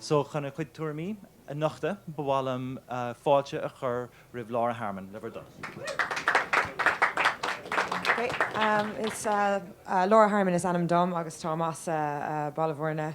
So chun a chuid tuairimí a nochtadh ba mhaith liom fáilte a chur roimh Laura Harmon le bhur dtoil. Laura Harmon is ainm dom agus táim as Baile Bhuirne.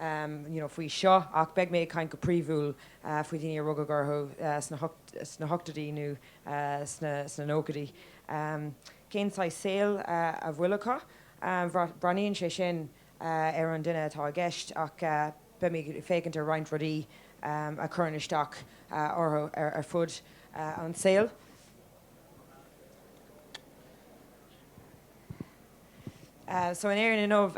um you know faoi seo ach beidh mé ag caint go príomhúil faoi dhaoine a rugadh orthu sna hochtóidí nó sna nóchaidí. um Cén saghas saoil a bhfuil acu? Breathnaíonn sé sin ar an duine atá i gceist ach beidh mé ag féachaint ar roinnt rudaí a chuireann isteach orthu ar fud an tsaoil. So in Éirinn inniu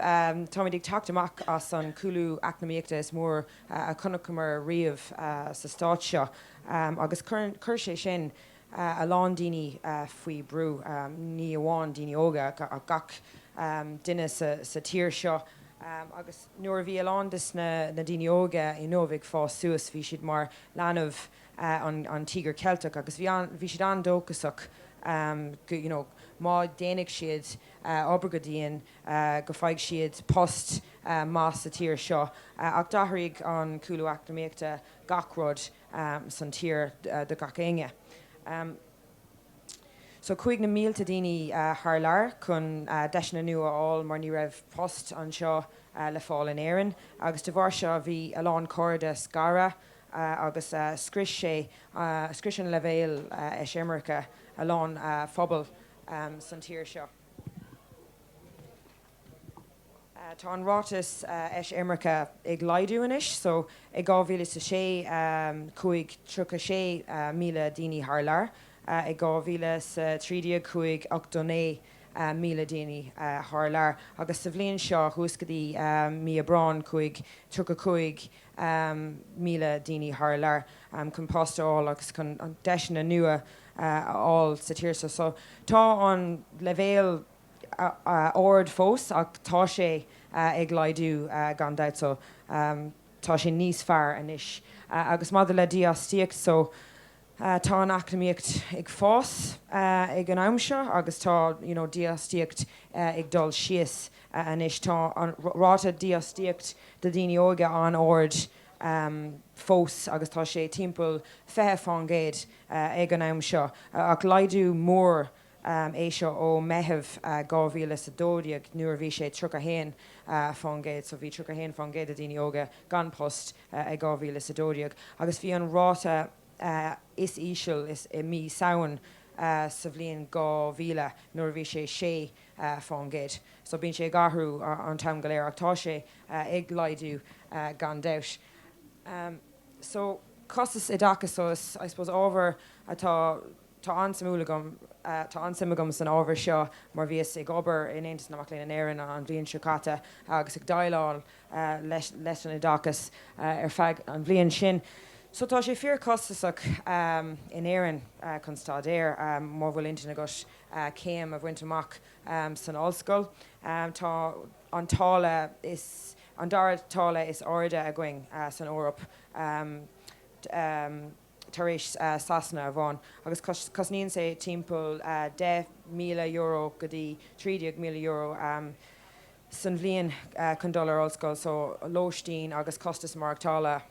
táimid ag teacht amach as an chúlú eacnamaíochta is mór a chonaiceamar riamh sa stát seo agus chuir sé sin a lán daoine faoi bhrú, ní amháin daoine óga ach gach duine sa tír seo agus nuair a bhí a lán des na daoine óga inniu ag fás suas bhí siad mar leanbh. an Tíogar Ceilteach agus bhí an, bhí siad an-dóchasach go, you know, má déanfaidh siad obair go dian go bhfaighidh siad post maith sa tír seo ach d'athraigh an cúlú eacnamaíochta gach rud san tír do gach éinne. So chuaigh na mílte daoine thar lear chun deiseanna nua a fháil mar ní raibh post anseo le fáil in Éirinn agus de bharr seo bhí a lán cairde scartha, agus scrios sé scrios an leibhéal eisimirce a lán phobal san tír seo. Tá an ráta eisimirce ag laghdú anois so i 2006 chuaigh 36,000 daoine thar lear, i 2013 chuaigh 89,000 daoine thar lear agus sa bhliain seo thuas go dtí mí Aibreáin chuaigh 35,000. míle daoine thar lear chun post a fháil agus chun deiseanna nua a fháil sa tír seo. So tá an leibhéal ard fós ach tá sé ag laghdú gan dabht. So tá sé níos fearr anois. Agus maidir le dífhostaíocht, so Tá an eacnamaíocht ag fás ag an am seo agus tá dífhostaíocht ag dul síos anois. Tá an ráta dífhostaíocht do dhaoine óga an-ard fós agus tá sé timpeall 20% ag an am seo ach laghdú mór é seo ó Meitheamh 2012 nuair a bhí sé 31%, so bhí 31% de dhaoine óga gan post i 2012 agus bhí an ráta is íseal i mí Samhain sa bhliain 2000 nuair a bhí sé 6%. So bíonn sé ag athrú an t-am go léir ach tá sé ag laghdú gan dabht. So costas oideachais, so is I suppose ábhar atá. Tá an-suimiúil agam, tá an-suim agam san ábhar seo mar bhíos ag obair in Aontas na Mac Léinn in Éirinn an bhliain seo caite agus ag déileáil leis an oideachas ar feadh an bhliain sin. So tá sé fíor costasach in Éirinn chun staidéar má bhfuil intinn agat céim a bhaint amach san ollscoil. Tá an táille an dara táille is airde againn san Eoraip. tar éis Sasana amháin agus cosnaíonn sé timpeall €10,000 go dtí €13,000 san bhliain chun dul ar ollscoil so lóistín agus costas maireachtála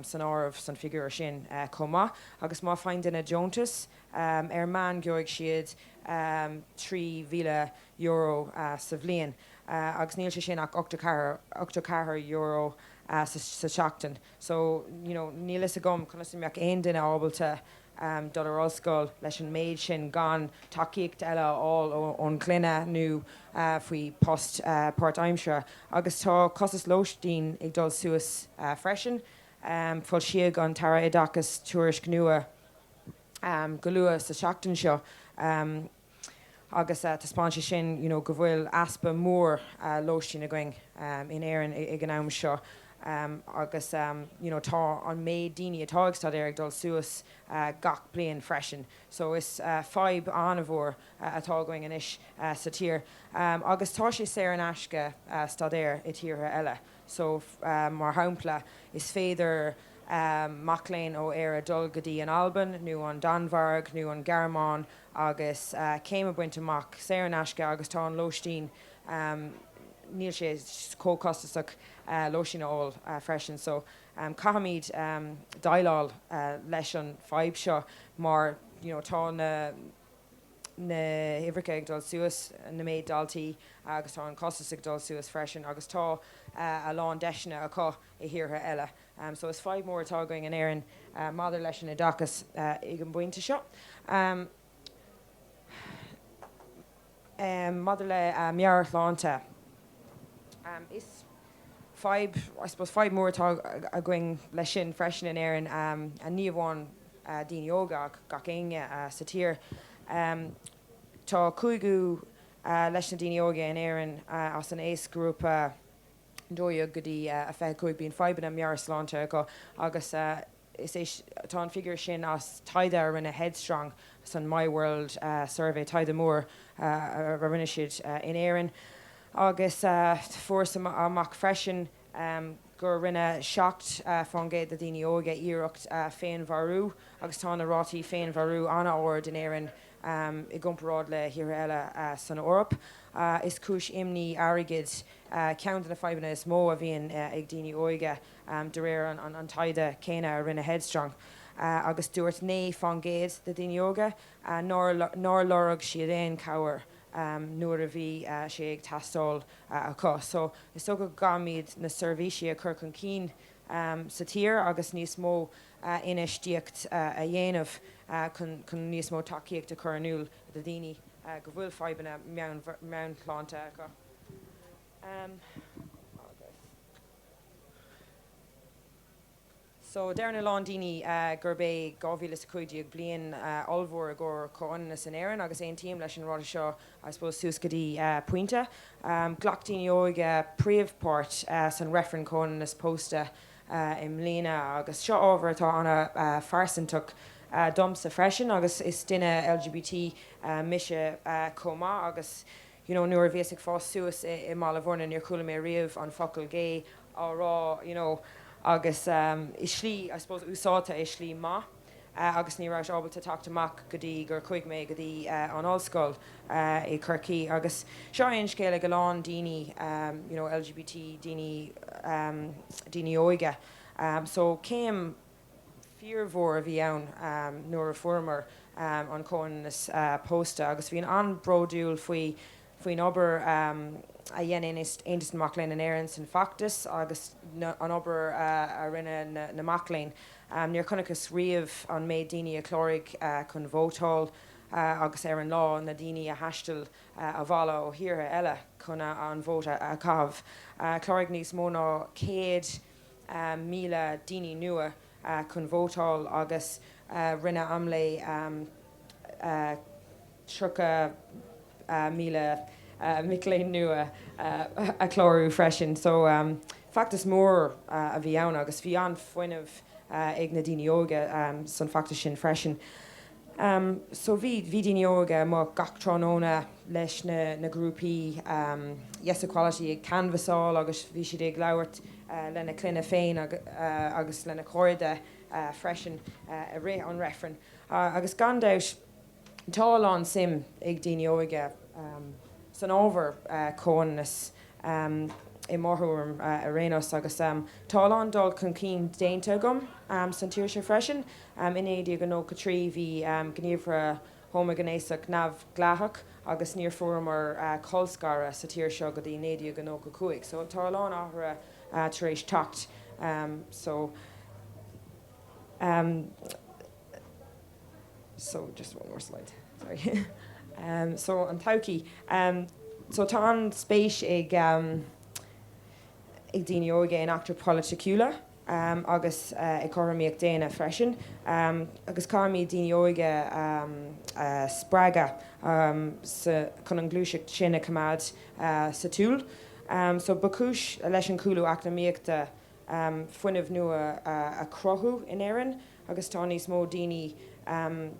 san áireamh san figiúr sin chomh maith agus má faigheann duine deontas ar meán gheobhaidh siad €3,000 sa bhliain agus níl sé sin ach €84 sa tseachtain. so you know níl fhios agam conas a mbeadh aon duine ábalta dul ar ollscoil leis an méid sin gan tacaíocht eile a fháil ón gclann nó faoi post páirtaimseartha agus tá costas lóistín ag dul suas freisin. Foilsíodh an tAire Oideachais tuairisc nua go luath sa tseachtain seo. agus taispeánann sé sin you know go bhfuil easpa mór lóistín againn in Éirinn ag an am seo agus you know tá an méid daoine atá ag staidéar ag dul suas gach bliain freisin so is fadhb an-mhór atá againn anois sa tír agus tá sé saor in aisce staidéar i tíortha eile so mar shampla is féidir mac léinn ó Éire dul go dtí an Albain nó an Danmhairg nó an Ghearmáin agus céim a bhaint amach, saor in aisce agus tá an lóistín, níl sé chomh costasach lóistín a fháil freisin so caithfimid déileáil leis an fadhb seo mar you know tá na na huimhreacha ag dul suas, na méid daltaí agus tá an costas ag dul suas freisin agus tá a lán deiseanna acu i tíortha eile Um so is fadhb mór atá againn in Éirinn uh maidir leis an oideachas uh ag an bpointe seo. Um Um maidir le uh meabhairshláinte um is fadhb I suppose fadhb mór atá againn leis sin freisin in Éirinn um and ní amháin uh daoine óga ach gach éinne uh sa tír. Um tá cúigiú uh leis na daoine óga in Éirinn uh as an aoisghrúpa 12 go dtí 25 bíonn fadhbanna meabhairshláinte acu agus is é tá an figiúr sin as taighde a rinne Headstrong san My World Survey, taighde mór a rinne siad in Éirinn agus fuarthas amach freisin gur rinne 7% de dhaoine óige iarracht féinmharú agus tá na rátaí féinmharú an-ard in Éirinn. i gcomparáid le thíortha eile san Eoraip. Is cúis imní airgid ceann de na fadhbanna is mó a bhíonn ag daoine óige, de réir an taighde céanna a rinne Headstrong, agus dúirt naoi fán gcéad de dhaoine óga nár lorg siad aon chabhair nuair a bhí sé ag teastáil acu. So, is dóigh go gcaithfimid na seirbhísí a chur chun cinn sa tír agus níos mó. infheistíocht a dhéanamh chun níos mó tacaíocht a chur in iúl do dhaoine go bhfuil fadhbanna meabhairshláinte acu so deireann a lán daoine gurb é 2015 bliain ollmhór i gcomhair comhionannas in Éirinn agus aontaím leis an ráiteas seo I suppose suas go dtí pointe. Ghlac daoine óige príomhpháirt san reifreann comhionannas pósta i mbliana agus seo ábhar atá an-phearsantach domsa freisin agus is duine LGBT mise chomh maith agus you know nuair a bhíos ag fás suas i mBaile Mhúirne níor chuala mé riamh an focal gay á rá you know agus i slí I suppose úsáidte i slí maith. agus ní rabhas ábalta teacht amach go dtí gur chuaigh mé go dtí an ollscoil i Chorcaigh agus seo é an scéal ag a lán daoine you know LGBT daoine daoine óige so céim fíormhór a bhí ann nuair a fuaireamar an comhionannas pósta agus bhíos an-bhródúil faoi faoin obair a dhein Aontas na Mac Léinn in Éirinn san feachtas agus an obair a rinne na mac léinn. Níor chonacthas riamh an méid daoine a chláraigh chun vótáil agus ar an lá, na daoine a thaistil abhaile ó thíortha eile chun an vóta a chaitheamh. Chláraigh níos mó ná 100,000 daoine nua chun vótáil agus rinne AMLÉ. 30,000 mic léinn nua a chlárú freisin. So feachtas mór a bhí ann agus bhí an-fhuinneamh ag na daoine óga san feachtas sin freisin. So bhí daoine óga amuigh gach tráthnóna leis na grúpaí Yes Equality ag canvassáil agus bhí siad ag labhairt lena clainne féin agus lena chairde freisin i rith an reifrinn agus gan dabht, Tá a lán suim ag daoine óga san ábhar comhionannas i mo thuairim ar aon nós agus tá a lán dul chun cinn déanta agam san tír seo freisin. In 1993 bhí gníomhartha homaighnéasach neamhdhleathach agus níor fuaireamar colscaradh sa tír seo go dtí 1995 so tá a lán athruithe tar éis teacht. Tá an-spéis ag daoine óga in eachtra polaitiúla agus i gcothromaíocht daonna freisin agus caithfimid daoine óga a spreagadh chun an ghluaiseacht sin a choimeád sa tsiúl. So. Ba chúis leis an gcúlú eacnamaíochta um fuinneamh nua a chruthú in Éirinn agus tá níos mó daoine um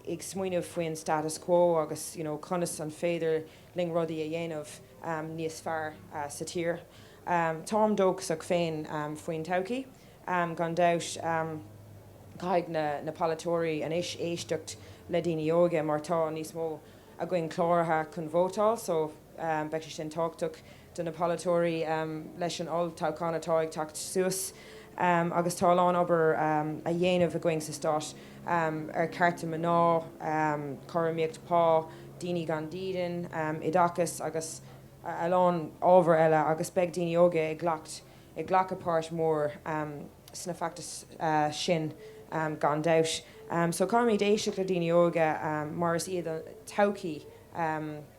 ag smaoineamh faoin status quo agus you know conas an féidir linn rudaí a dhéanamh um níos fearr sa tír. Um táim dóchasach féin um faoin todhchaí um gan dabht. Um caithfidh na na polaiteoirí anois éisteacht le daoine óga mar tá níos mó againn cláraithe chun vótáil so um beidh sé sin tábhachtach. do na polaiteoirí leis an olltoghchán atá ag teacht suas agus tá a lán obair a dhéanamh againn sa stát ar chearta mná, cothromaíocht pá, daoine gan dídean, oideachas agus a lán ábhar eile agus beidh daoine óga ag ag glacadh páirt mhór sna feachtais sin gan dabht. So caithfimid éisteacht le daoine óga mar is iad an todhchaí.